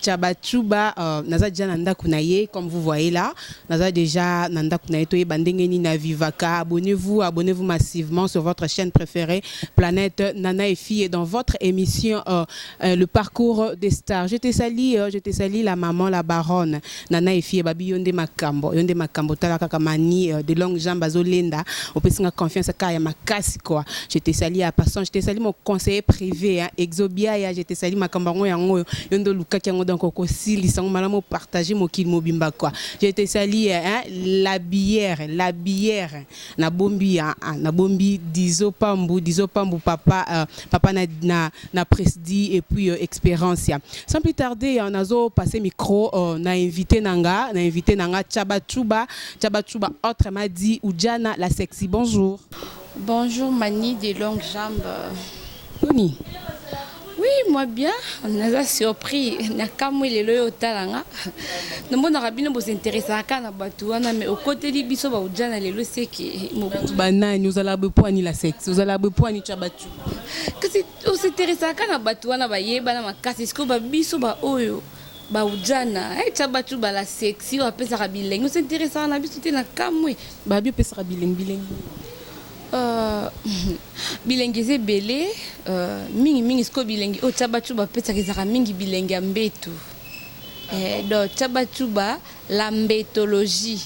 Tshabatshuba euh, naza deja na ndako na ye comme vous voyez là naza deja na ndako na ye toyeba ndenge nini na vivaka abonnez-vous abonnez-vous massivement sur votre chaîne préférée planète nana et fille dans votre émission euh, euh, le parcours des stars je te salis euh, je te salis la maman la baronne Nana et fille babi yonde makambo yonde makambo tala kaka mani euh, de longue jambe azo lenda opesi nga confiance kaka ya makasi quoi je te sali à passant je te sali mon conseiller privé hein exobia ya je te sali makambo yango yango oyo yonde lukaki yango donc okosilisa ngo malamu partager mokili mobimba quoi je te sali hein la bière la bière na bombi ya ah, na bombi dizo pambu dizo pambu papa euh, papa na na na presdi et puis euh, experience ya sans plus tarder euh, nazo passer micro euh, na invité nanga na invité nanga chaba chuba chaba chuba autre m'a dit Ujana la sexy bonjour Bonjour Mani des longues jambes. Tony, Oui, moi bien, naza surpris, nakamwe lelo yo otala nga. Namonaka bino bo s'intéresser ka na bato wana mais okoteli biso ba ujana lelo seki. Ba nani ozala be poani la sexe, ozala be poani cha batu. Kasi o s'intéresser ka na bato wana ba yeba na makasi siko ba biso ba oyo ba ujana. Eh cha batu ba la sexy o apesaka bilengi, o s'intéresser na biso te na kamwe. Ba bi opesaka bilengi bilengi. Euh, bilengi eza ebele euh, mingi mingi sikoyo bilengi oyo cabacu bapesaka ezalaka mingi bilengi ya mbetu eh, donc cabacu ba la mbetologie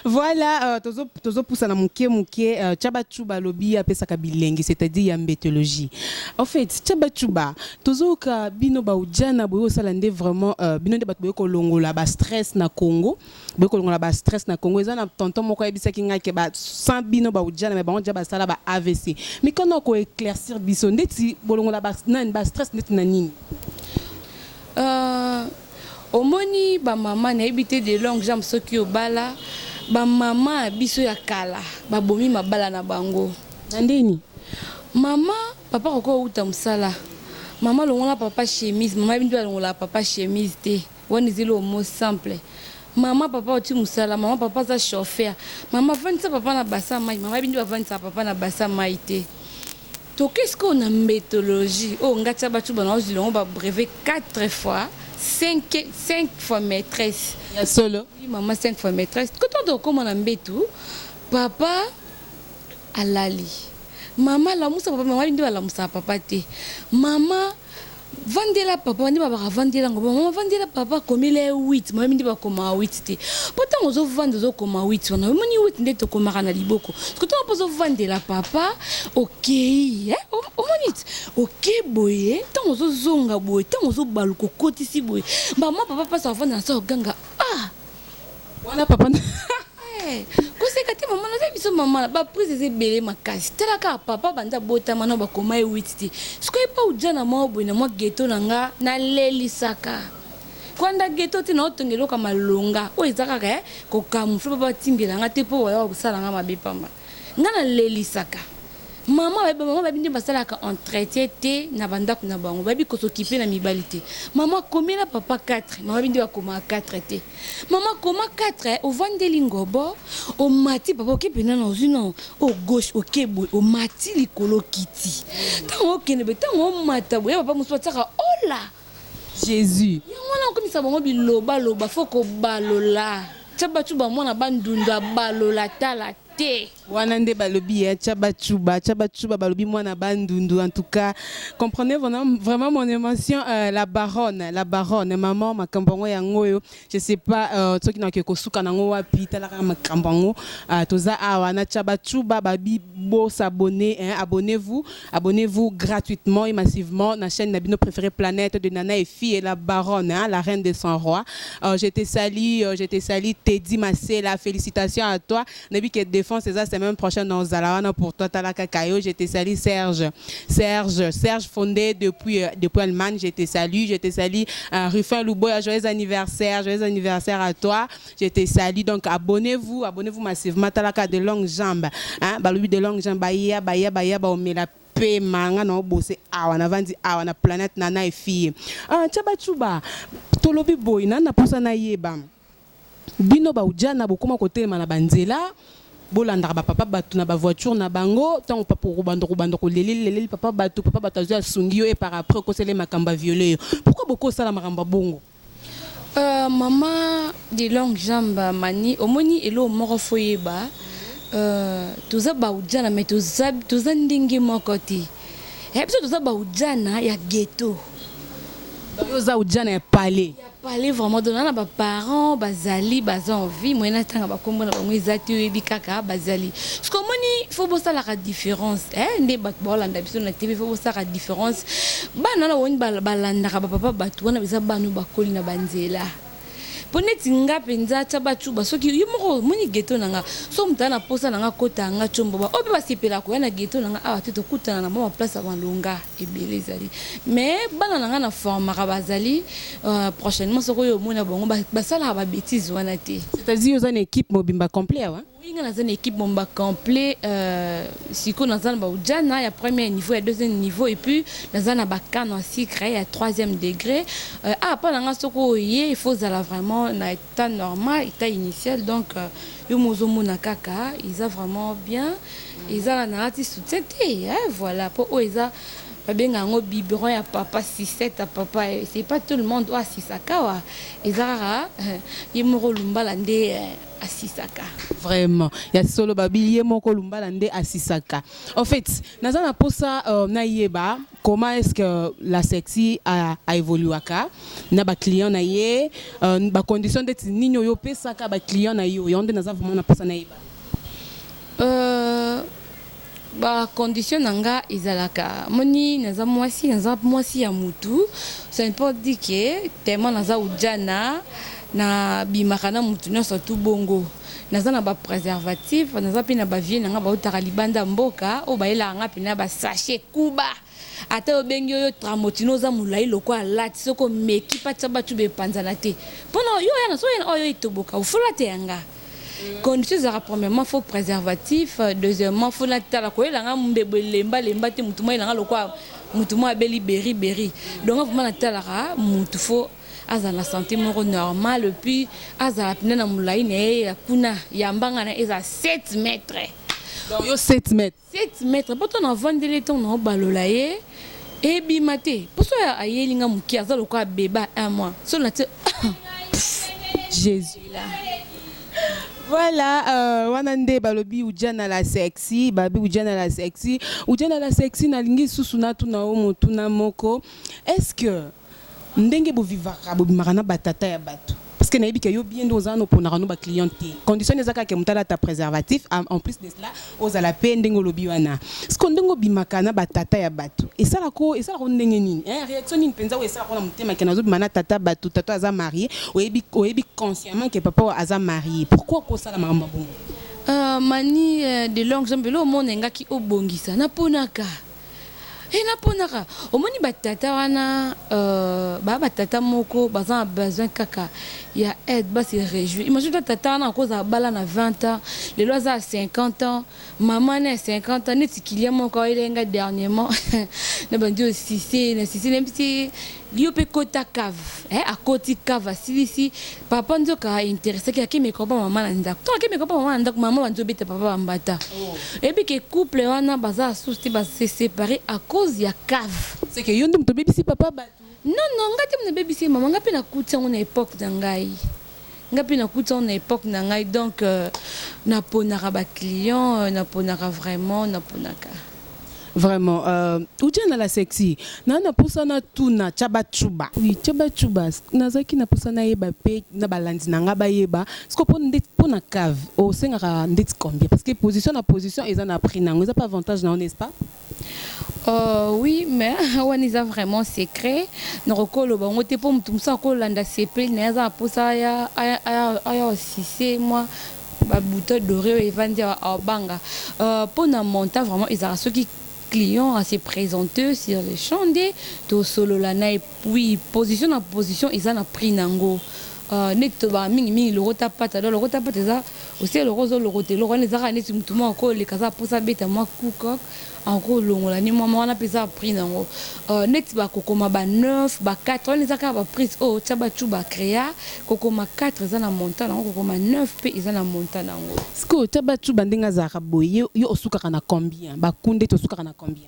voilà euh, tozopusa na moke moke euh, cabacuba alobi apesaka bilengi c'est-à-dire ya mbetologie en fait cabacuba tozoyoka bino baujana boye osala nde vraiment euh, bino nde bato boye kolongola bastress na congo boye kolongola ba stress na Congo eza na tonton moko ayebisaki ngai ke ba sans bino ba ujana mais bango déjà basala ba AVC mais quand on ko éclaircir biso ndeti bolongola ba nani ba stress ndeti na nini euh, omoni ba mama nayebi te de longue jambe soki obala ba mama biso ya kala babomi mabala na bango na ndeni mama papa kokoa uta mosala mama longola papa chemise mama yebi nde balongola papa chemise te Wana ezali homo simple. Maman papa oti musala maman papa aza chauffeur maman avandisa papa na basa mayi maman bindi bavandisa papa na basa mayi te toke sikoyo na mbetologie oyo nga tia bacuba na ozwi longo ba brevet 4 fois 5, 5 fois maîtresse ya solo oui maman 5 fois maîtresse koto tokoma na mbetu papa Alali. Mama lamusa papa mama nde balamusaka papa te mama vandela papa nde babaka vandela ngo mama vandela papa komela ye 8 mama nde bakoma 8 te mpo ntango ozovanda ozokoma 8 wana omoni 8 nde tokomaka na liboko soko ntango mpo ozovandela papa okei eh? omoni ti oke boye ntango ozozonga boye ntango ozobaluka okotisi boye mama papa mpasi avanda na sa oganga ah wana papa eh, koseka te mama naza biso mama ba prise eza ebele makasi tala kaka papa banda botama na bakoma ye witi te sikoyo epa oja na mwa boye na mwa geto na nga nalelisaka kwanda geto te naotonga eloko ya malonga oyo eza kaka eh, kokamufle papa atimbela nga te mpo waya kosala nga mabe pamba Nga na lelisaka maman bayebi maman bayebi nde basalaka entretien te na bandako na bango bayebi kosokipe na mibali te maman komela papa 4 maman bayebi nde bakomaka 4 te maman koma 4 eh, ovandeli ngobo omati papa okepe nana ozwi na o oh, gauche oke boye omati likolo kiti ntango okende boye ntango omata boye papa mosusu batiaka ola oh Jesus. Yango wana okomisa bango biloba loba faut kobalola. Chabachuba mwana bandundu abalola tala te. Wana nde balobi ya Chabachuba. Chabachuba balobi mwana bandundu en tout cas. Comprenez vraiment mon émotion euh, la baronne, la baronne maman makambo yango yango oyo je sais pas euh, soki na ke kosuka nango wapi talaka makambo yango euh, toza awa na chaba chuba babi bo s'abonner hein, abonnez-vous abonnez-vous gratuitement et massivement na chaîne na bino préférée planète de Nana et fille et la baronne hein, la reine des 100 rois euh, je te salue euh, je te salue Teddy Masela félicitations à toi Nayebi que defense eza semaine prochaine na ozala wana pour toi tala kaka yo je te salis Serge Serge Serge Fondé depuis euh, depuis Allemagne je te salis je te salis euh, Ruffin Luboya joyeux anniversaire joyeux anniversaire à toi je te salis donc abonnez-vous abonnez-vous massivement tala kaka de longues jambes hein balobi de longues jambes baya baya baya baomela pe manga na obose awa na vandi awa na planète na na fille ah chaba chuba tolobi boy na na posa na yeba Bino ba ujana bokoma kotelema na ba nzela bolandaka ba papa batu na ba voiture na bango tango papa okobanda okobanda koleleli leleli papa batu papa batu azwi asungi yo et par après okosela ye makambo a viole yo pourquoi bokoki kosala makambo ya bongo? Euh, maman de longue jambe mani omoni eloko moko fo yeba euh, toza baujana mais toza, toza ndenge moko te ya eh, biso toza baujana ya ghetto yo oza ujana ya palais Parler vraiment donc nana ba parents bazali baza en vie moyen atanga ba kombo na bango eza te oyebi kaka bazali ce que omoni faut bosalaka différence eh nde bato baolanda biso na tv faut bosalaka différence bana wana boni balandaka ba papa bato wana eza bana bakoli na banzela mpo neti nga mpenza tya bacuba soki yo moko omoni geto na nga so moto aa na mposa na nga kota nga comboba oyo mpe basepela koya na geto na nga awa te tokutana na mwa baplace ya malonga ebele ezali mais bana na ngai na formaka bazali euh, prochainement soki oyo omona bango basalaka babétise wana te c'est-à-dire oza na équipe mobimba complet awa oui nga naza na équipe mobimba complet euh, sikoyo naza na baujana ya premier niveau ya deuxième niveau et puis naza na bakano ya sucre ya troisième degré euh, ah mpo na ngai soki oye il faut ozala vraiment na ta normal ta initial donc yo mo ozo mona kaka eza vraiment bien eza na nalati soutien te eh, voilà po oyo eza babenga yango biberon ya papa sisete ya papa eh, c'est pas tout le monde oyo asisaka wa eza kaka eh, ye moko lumbala nde eh, asisaka vraiment ya solo babi ye moko lumbala nde asisaka en fait naza na posa euh, nayeba Comment est-ce que la sexy a, a evoluaka na ba clients na ye euh, ba conditions ndeti nini oyo opesaka ba clients na yo yango nde naza vraiment na posa na yeba euh, ba conditions na nga ezalaka moni naza mwasi naza mwasi ya mutu ça ne pas dire que tellement naza ujana na bimaka na mutu nyonso tout bongo Naza na ba preservatifs, naza pe na ba vieux na nga bautaka libanda ya mboka oyo bayelaka nga pene na ba sachets kuba. Ata yo obengi yo yo tramotino oza mulayi lokola latte soki omeki patsha ba tube epanzana te. Po na yo oya na soki oye na oyo yo etoboka oufo latte ya nga. Condition ezalaka premièrement faut preservatif, deuxièmement faut na tala koyela nga mbebo elemba lemba te mutu mwa yela nga lokola mutu mwa abeli beri beri. Donc nga vraiment na talaka mutu faut. azala na sante moko normal epuis azala mpena na molai na ye ya kuna ya mbanga na ye ezala 7 mètre donc yo 7 mètre 7 mètre mpo ntango navandeli ye ntango naobalola ye ebima te mpo so ayeli nga moke aza lokola beba un mois so na ti jésus là Voilà, euh, wana nde balobi ujana la sexy, babi ujana la sexy. Ujana la sexy nalingi susu natuna yo motuna moko. Est-ce que Ndenge bo vivaka bobimaka na ba tata ya batu parce que nayebi que yo bien nde oza wana oponaka no ba clients te condition nde eza kaka que moto alata preservatif en plus de cela ozala pe ndenge olobi wana sikoyo ndenge obimaka na ba tata ya batu esalaka yo esalaka yo ndenge nini hein reaction nini penza oyo esalaka yo na motema que nazobima na tata ya batu tata oyo aza marie oyebi oyebi consciemment que papa oyo aza marie pourquoi kosala makambo ya bongo? Ahh Mani de longue jambe eloko moko nalingaki obongisa naponaka. He na ponaka omoni ba tata wana euh, ba ba tata moko baza na besoin kaka ya aide ba se réjouir imagine toi tata wana akoza abala na 20 ans lelo aza 50 ans maman na 50 ans neti kilia moko ayelaki nga dernièrement na bandi osise na sise na bisi Yo pe kota cave. Eh akoti cave asilisi papa nzoka a interessaki ake meka ba maman na ndaku. Tango ake meka ba maman na ndaku maman banzo beta papa ba mbata. Oyebi ke couple wana baza asusu te ba se separer à cause ya cave. C'est que yo nde mutu obebisi papa batu. Non non nga te mutu na bebisi ye maman nga pe na kuti yango na epoque na ngai. Nga pe na kuti yango na epoque na ngai donc na ponaka ba clients na ponaka vraiment na ponaka. Vraiment euh Udjana la sexy na na posa na tuna Chaba Chuba. Oui Chaba Chuba na zaki na posa na yeba pe na ba landi na nga ba yeba siko po nde po na cave o sengaka ndeti combien parce que position na position eza na prix na yango eza pe avantage na yo n'est ce pas? Ohh oui mais wana eza vraiment secret nakoki koloba yango te po mutu mususu ako landa sepeli naye aza na posa aya aya osise mua ba bouton d'oreille oyo evandi awa abanga euh pona montant vraiment ezalaka soki client a se presenter sur le champ nde tosolola naye puis position na position eza na prix nango euh neti tolobaka mingi mingi lokota pata donc lokota pata eza Osi eloko ozo lokota eloko wana eza kaka neti mutu moko ako leka aza posa abeta mwa coup coq ako longola ni mwa wana pe eza prix nango neti ba ko koma ba neuf ba quatre wana eza kaka ba prix oyo tshabatshu ba crea ko koma quatre eza na montant nango ko koma neuf pe eza na montant nango. Sikoyo tshabatshuba ndenge azalaka boye yo osukaka na combien ba kunde te osukaka na combien?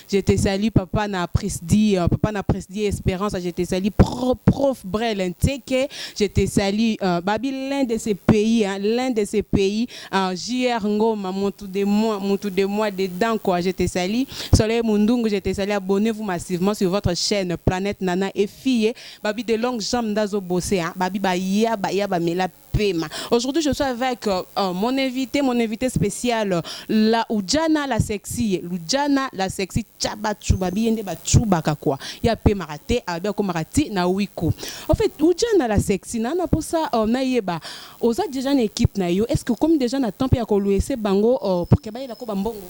Je te salue papa na presdie papa na presdie esperance je te salue pro prof brel nseke je te salue uh, babi l'un de ces pays hein, l'un de ces pays uh, jr ngoma mutu de moi mutu de moi dedans quoi je te salue soleil mundungu je te salue abonnez vous massivement sur votre chaîne planète nana et fille babi de longue jambe ndazo bosse hein, babi ba ya ba ya ba mela pema aujourd'hui je suis avec mon invite mon invite special la udjana la sexie ludjana la sexie ca ba tsuba biye nde ba tsubaka kua ye apemaka te abi akomaka ti na wiko en fait udjana la sexie na na posa na yeba oza deja na equipe na yo est ce que okomi deja na temps pe ya ko luese bango pour que bayela ko ba mbongo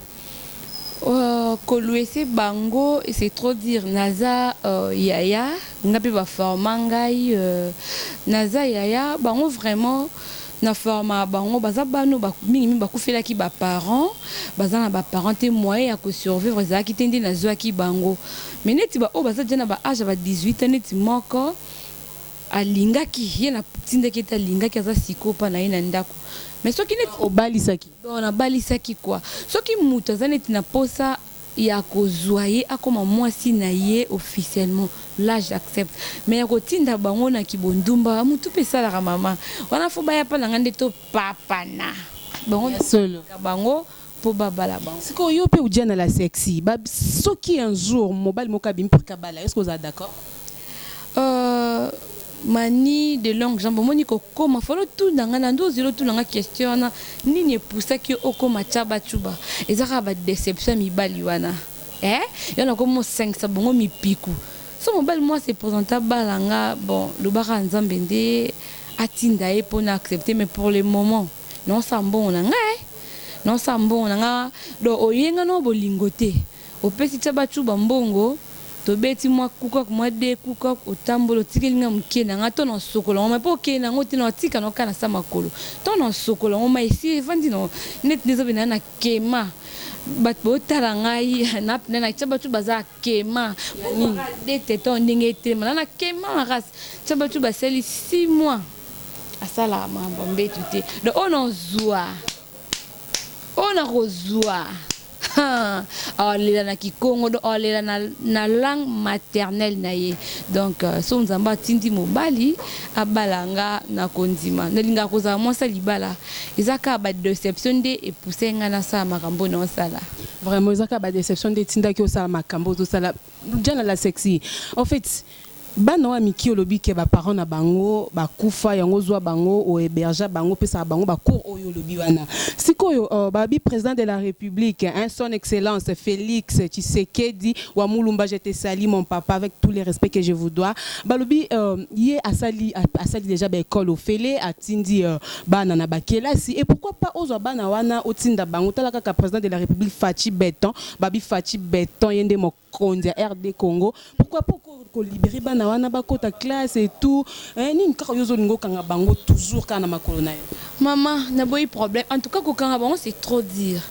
Ko luese bango c'est trop dire naza yaya nga pe ba forma ngai naza yaya bango vraiment na forma bango baza bana mingi mingi ba kufelaki ba parents baza na ba parents te moyen ya ko survivre ezalaki te nde na zwaki bango mais neti ba oyo baza dejà na ba age ya ba 18 ans neti moko alingaki ye na tindaki ye te alingaki aza sikoyo pa na ye na ndaku mais soki neti obalisaki Donc na balisaki quoi. Soki mutu aza neti na posa ya ko zua ye akoma mwasi na ye officiellement là j'accepte mais ya ko tinda bango na ki bondumba mutu pe esalaka maman wana faut baya epa na ngai nde to papana bango Ya solo. na bango po ba bala bango. Sikoyo yo pe udjana la sexy ba soki un jour mobali moko abimi pour que abala yo est ce que ozala d'accord? Ooh Mani de longue jambe omoni ko koma fallait otuna nga na nde ozela otuna nga question wana nini e poussaki yo okoma caba cuba eza kaka ba deception ya mibali wana eh yo na komi osangisa bango mipiku soki mobali moko a se presente abala nga bon loba kaka nzambe nde atinda ye po na accepte mais pour le moment nazo sala mbongo na nga eh nazo sala mbongo na nga donc oye nga na yo bolingo te Opesi tshabatshuba mbongo tobeti mwa kukok mwa de kukok otamboli otikeli nga mukie na nga to na osokola ngo mai po okei na ngo te nao tika nao kana sa makolo to na osokola ngo mai esi evandi nao neti nde zobe nayo na kema batu bao tala ngai na pna na tshabatshuba aza akema po nini de teton ndenge etelema na na kema makas tshabatshuba asali six mois asala makambo ya mbetu te donc oyo nao zua oyo nako zua Haa awa lela na kikongo donc awa lela na na langue maternelle na ye donc soki nzambe atindi mobali abala nga na kondima na lingaka kozala mwasi ya libala eza kaka ba deception nde e pousse nga na sala makambo na osala. Vraiment eza kaka ba deception nde etindaki osala makambo ozo sala djana la sexy en fait. Bana oyo ya mikie olobi ke ba parents na bango ba kufa yango ozua bango o hebergea bango opesaka bango ba cours oyo olobi wana sikoyo ba bi president de la republique hein son excellence Felix tshisekedi wa mulumba je te salut mon papa avec tout le respect que je vous dois balobi ye asali asali dejà ba ecole ofele atindi bana na ba kelasi et pourquoi pas ozua bana wana otinda bango tala kaka president de la republique Fatshi beton ba bi Fatshi beton ye nde konzi ya rdcongo pourquoi pas ko libere bana wana bakota classe et tout eh nini kaka yo ozo linga okanga bango toujours kaka na makolo nayo. Maman na boyi problème en tout cas ko kanga bango c'est trop dire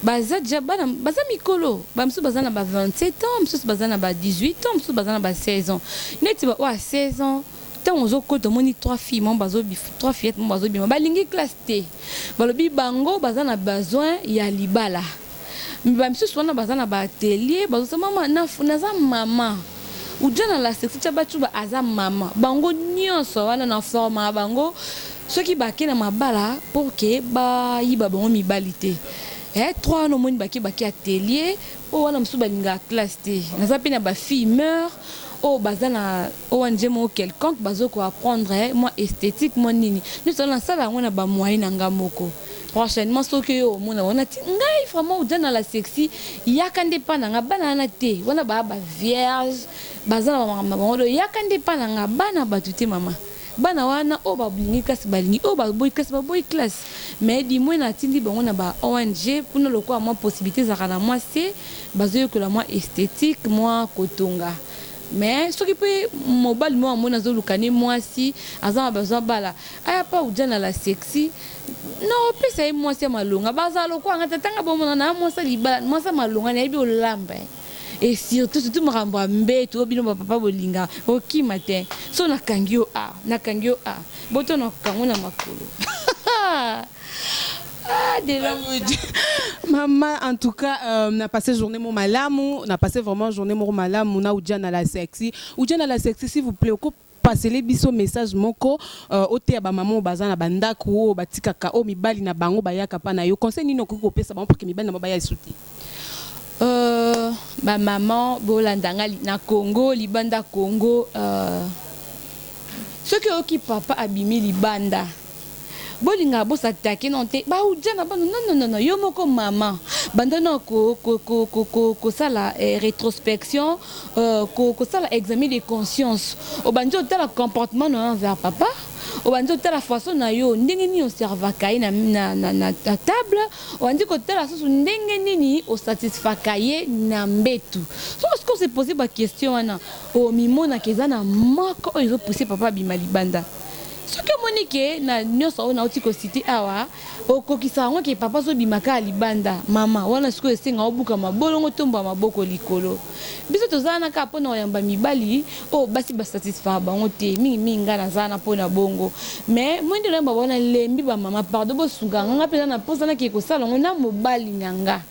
baza dejà bana baza mikolo ba misusu baza na ba 27 ans misusu baza na ba 18 ans misusu baza na ba 16 ans neti ba oyo ya 16 ans tango ozo kota omoni trois filles moko bazo trois fillettes moko bazo bima ba lingi classe te ba lobi bango baza na besoin ya libala mais ba misusu wana baza na ba atelier bazo sa mama na naza mama uja na la sexy ca bacuba aza mama bango nionso wana na forma bango soki ba ke na mabala pour que ba yiba bango mibali te eh trois wana omoni ba ke ba ke atelier oyo wana misusu ba lingaka classe te naza pe na ba fille meur oyo baza na ONG moko quelconque bazo ko apprendre eh, mwa esthétique mwa nini nionso wana na sala yango na ba moyen na nga moko Prochainement soki yo omona wana ti ngai vraiment oza na la sexy yaka nde epa na nga bana wana te wana ba ba vierge baza na ba makambo na bango donc yaka nde epa na nga bana batu te mama bana wana oyo ba lingi classe ba lingi oyo ba boyi classe ba boyi classe mais du moins na tindi bango na ba ong kuna lokola mwa possibilite ezalaka na mwa se bazo yekola mwa esthetique mwa ko tonga mais soki pe mobali moko amoni azo luka ne mwasi aza na besoin abala aya pa udjana la sexy na opesa ye mwasi ya malonga bazala lokola nga tata nga bomona na mwasi ya libala mwasi ya malonga nayebi olamba eh. e surtout surtout makambo ya mbetu oyo bino bapapa bolinga okima te so nakangi yo a nakangi yo a boto nakango na makolo Ah, de la Maman, en tout cas, euh, on a passé journée mon malamu, on a passé vraiment journée mon malamu, on a Oudjana la sexy. Oudjana la sexy, s'il vous plaît, Pasele biso message moko oteya ba maman oyo baza na ba ndaku oyo batikaka oyo mibali na bango bayaka pa na yo conseil nini okoki kopesa bango pour que mibali na bango baya lisusu te? Ooh ba maman bolanda nga na congo libanda congo soki oyoki papa abimi libanda. Bolingaka bo s'attaquer nanu te ba udja na bana non non non yo moko maman banda nanu ko kosala retrospection kosala examen de conscience obandi otala comportement nayo envers papa obandi otala façon nayo ndenge nini oservaka ye na table obandi kotala susu ndenge nini osatisfaka ye na mbetu soki osiko o se poser ba question wana omimonaka eza na moko oyo ezo pousser papa abima libanda. Soki omoni que na nionso oyo nawuti ko citer awa, okokisaka yango que papa azo bima kaka libanda, maman, wana sikoyo esenga obuka mabolongo, otombola maboko likolo. Biso toza wana kaka pona koyamba mibali oyo basi ba satisfaka bango te, mingi mingi nga naza wana pona bongo. Mais moi nde nayamba bango, nalembi ba maman, pardon bosunga nga, nga pe naza na posa nakende kosala yango na mobali na nga.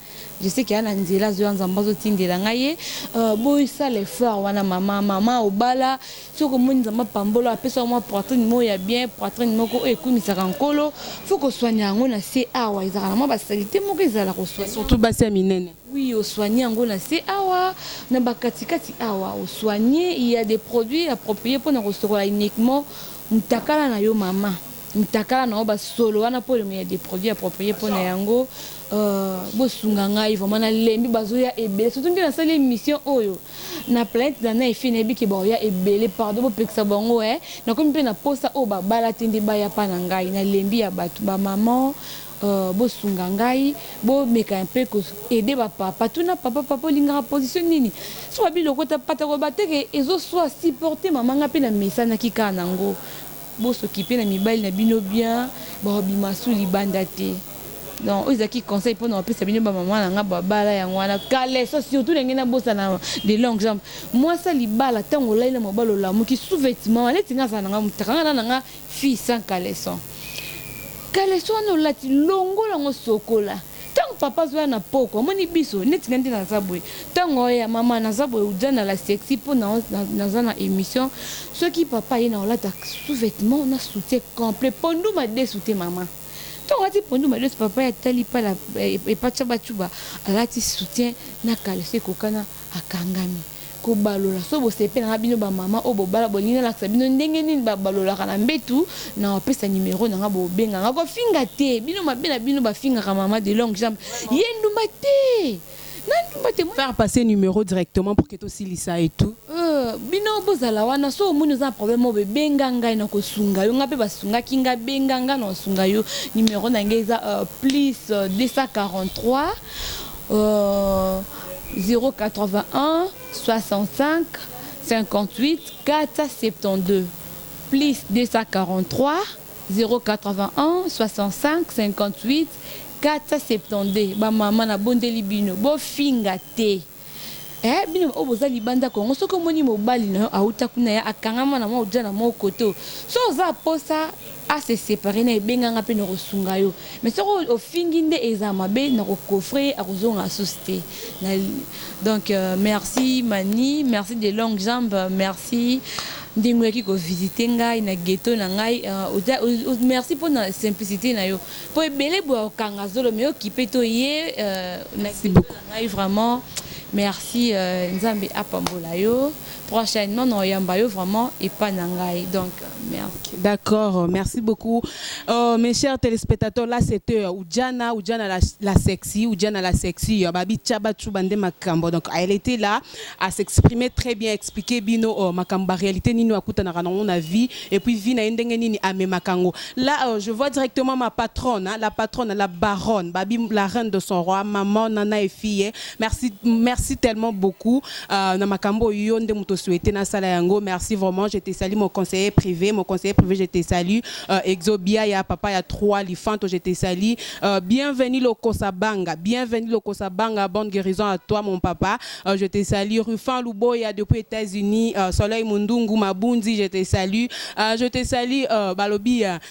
Je sais que a na nzela azoya nzambe azo tindela nga ye euh, bo sala effort wana mama mama obala soki omoni nzambe apambola apesa yo mwa poitrine moko ya bien poitrine moko oyo ekumisaka nkolo fo kosoigne yango na se awa ezalaka na mwa basalite moko ezala kosoigne surtout basi ya minene oui osoigne yango na se awa na bakatikati awa osoigne il y a des produits appropriés mpo na kosokola uniquement mutakala na yo mama mutakala na yo ba solo wana po olingo ya des produits approprier po na yango euh bo sunga ngai vraiment na lembi bazo ya ebele surtout nde na sali emission oyo na planète na na efi na yebi ke ba oya ebele pardon bo pekisa bango eh na komi pe na posa oyo ba bala te nde ba ya pa na ngai na lembi ya batu ba maman euh bo sunga ngai bo meka un peu ko aider ba papa tuna papa papa olingaka position nini soki ba bi lokota pata ko ba te ke ezo swa supporter maman ngai pe na mesanaki kaka na ngo Bo s'occuper na mibali na bino bien, ba bimasu libanda te. Donc oyo ezalaki conseil pona ko pesa bino ba maman na nga ba bala yango wana caleçon surtout na ngai na bosana de longue jambe mwasi ya libala tango olali na mobali olamuki sous vetement wana neti nga azala na nga mutaka nga na na nga fille sans caleçon caleçon wana olati longola yango sokola Tango papa azoya na pokwa amoni biso neti nga nde naza boye tango aya maman naza boye oza na la sexy po na naza na emission soki papa aye nako lata sous vetement na soutien complet pondu madesu te maman tango alati pondu madesu papa ye atali epa tshabatshuba alati soutien na caleçon ekokana Akangami. Kobalola. Soki bosepela na bino ba maman oyo bobala bolingi nalakisa bino ndenge nini ba balolaka na mbetu nawa pesa numero na nga bobenga nga kofinga te bino mabe na bino ba fingaka maman de longue jambe ye ndumba te na ndumba te faire passer numero directement pour que tosilisa et tout. Euh bino bozala wana soki omoni oza na problème oyo boye benga ngai nako sunga yo nga pe ba sungaki nga benga nga nao sunga yo numero na nga eza euh plus 243 euh 081-65-58-472 ba mama na bondeli bino bo finga te eh bino ba oyo boza libanda Congo soki omoni mobali na yo awuta kuna ya akangama na mwa oja na moko to so oza posa a se separer naye benga nga pe nako sunga yo mais soki ofingi nde eza mabe nako coffre ye ako zonga susu te na donc merci Manny merci de longue jambe merci ndenge oyaki ko visite ngai na ghetto na ngai merci pona simplicite na yo po ebele boye ako kanga zolo mais okipe to ye na ngai vraiment merci nzambe apambola yo. Prochainement na oyamba yo vraiment epa na ngai donc merci. D'accord merci beaucoup oh mes chers telespetateurs la seteur ujana ujana la, la sexy ujana la sexy euh, babi chaba chuba nde makambo donc elle était là à s'exprimer très bien expliquer bino oh, makambo ba réalité nini akutanaka nango na vie et puis vie na ye ndenge nini amemaka yango là euh, je vois directement ma patronne hein, la patronne la baronne babi la reine de son roi maman nana et fille Merci, merci tellement beaucoup. Euh, na makambo yo nde moto souhaité na sala yango. Merci vraiment. Je te salue mon conseiller privé, mon conseiller privé, je te salue. Euh, Exobia ya papa ya trois lifanto, je te salue. Euh, bienvenue Lokosa Banga, bienvenue Lokosa Banga. Bonne guérison à toi mon papa. Euh, je te salue Rufan Luboya depuis États-Unis, euh, Soleil Mundungu Mabundi, je te salue. Euh, je te salue euh, Balobi euh,